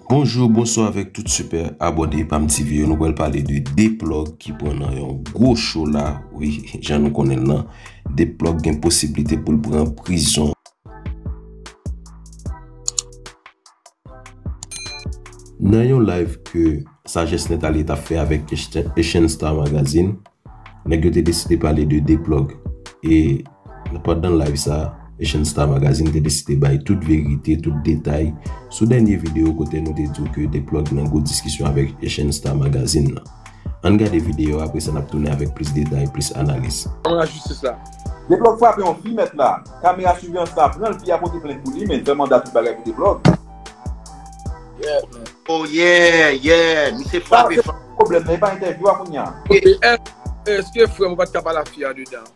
Bonjour bonsoir avèk tout super abòne epam tv yo nou pral pale de 2 plug ki pran nan yon gwo cho la wi jan nou konnen l lan 2 plug gen posibilite pou l pran prizon. Nan yon live ke Sagesse Net Allé tap fè avèk Echenstar Magazine. Nèg yo te deside pale de D-Plug e nan pandan live sa, Echan Star Magazine te deside bay tout verite, tout detay sou dènye videyo kote nou te diw ke D-Plug nan gwo diskisyon avèk Echan Star Magazine nan. Ann gade videyo a, apresa nap tounen avèk plis detay, plis analiz. Devan lajistis la. D-Plug frape yon fi mèt la. Kamera sivyans la pranl, fi a pote plent pou li men l fè manda tout bagay pou D-Plug. Oh yeah, yeah, misye frape fò. Problem nan e pa entèvyou a kounya. Eske frèm ou pat ka pale ak fi a de dan.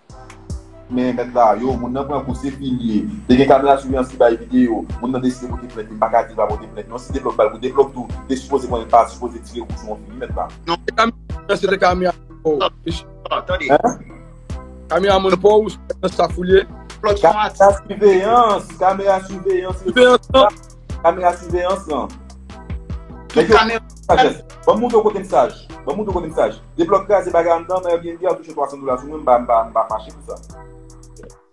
Men mèt la, yo moun nan pran kou se fil ye, te gen kamera siveyans ki bay video, moun nan deside pote plent li mpaka dil pa pote plent non si te blòf bal kou de blòf tou te sipoze konnen pa sipoze tire kou sou yon fi wi mèt la. Non se kamera se te kamera oh. Tande. Kamera man pouw ou siveyans sa fouye. Kamera siveyans. Kamera siveyans. Siveyans lan. Kamera siveyans lan. Tout kamera siveyans. Ban moun do kote msaj. Ban moun do kote msaj. Deblok kraze bagay an dan. Mwen yon byen di a touche 300 dola sou mwen. Mba mba mba fache pou sa.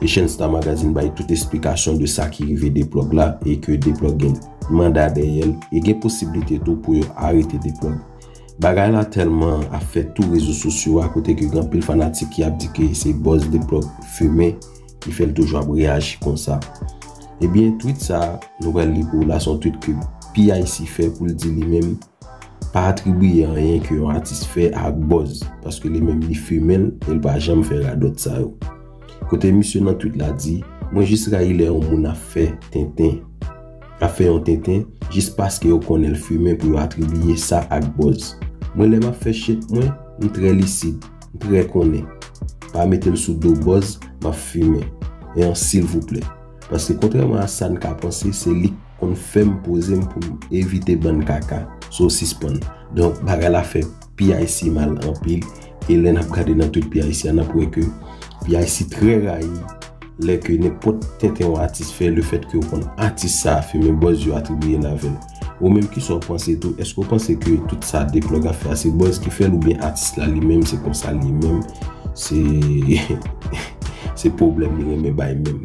Echensta Magazine bay tout esplikasyon de sa ki rive D-Plug la e ke D-Plug gen manda dèyè l e gen posiblite tou pou yo arete D-Plug. Bagay la tèlman ap fè tou rezo sosyo a kote ke gen anpil fanatik ki ap di ke se buzz D-Plug fimen ki fè l toujou ap reyaji konsa. Ebyen, tweet sa nou pral li pou w la se yon tweet ke PIC fè pou l di li menm Pa atribiye anyen ke yon atis fè a ak bòz, paske li menm li fimen l e l pa janm fè radòt sa yo. Kote misye nan tweet la di, Mwen jis rayi lè yon moun ap fè tenten, ap fè yon tenten, jis paske yo konnen l fimen pou yo atribiye sa ak bòz. Mwen lè m ap fè shit mwen, m trè lisid, m trè konnen. Pa mete l sou do bòz, m ap fimen. Ean silvouplè. Paske kontrèman a sa n ka panse, se li k. konn fèm pozem poum evite bann kaka so sispann donk bagay la fè PIC mal anpil e lè nap gade nan tout PIC a nap wè ke PIC trè rayi lè ke nenpòt tenten yon atis fè le fèt ke ou konn atis sa fimen bòz yo atribiyel avèl ou menm kisa ou panse tou eske ou panse ke tout sa deplòg ap fè a se bòz ki fèl oubyen atis la li menm se konsa li menm se se pwoblèm li renmen bay menm.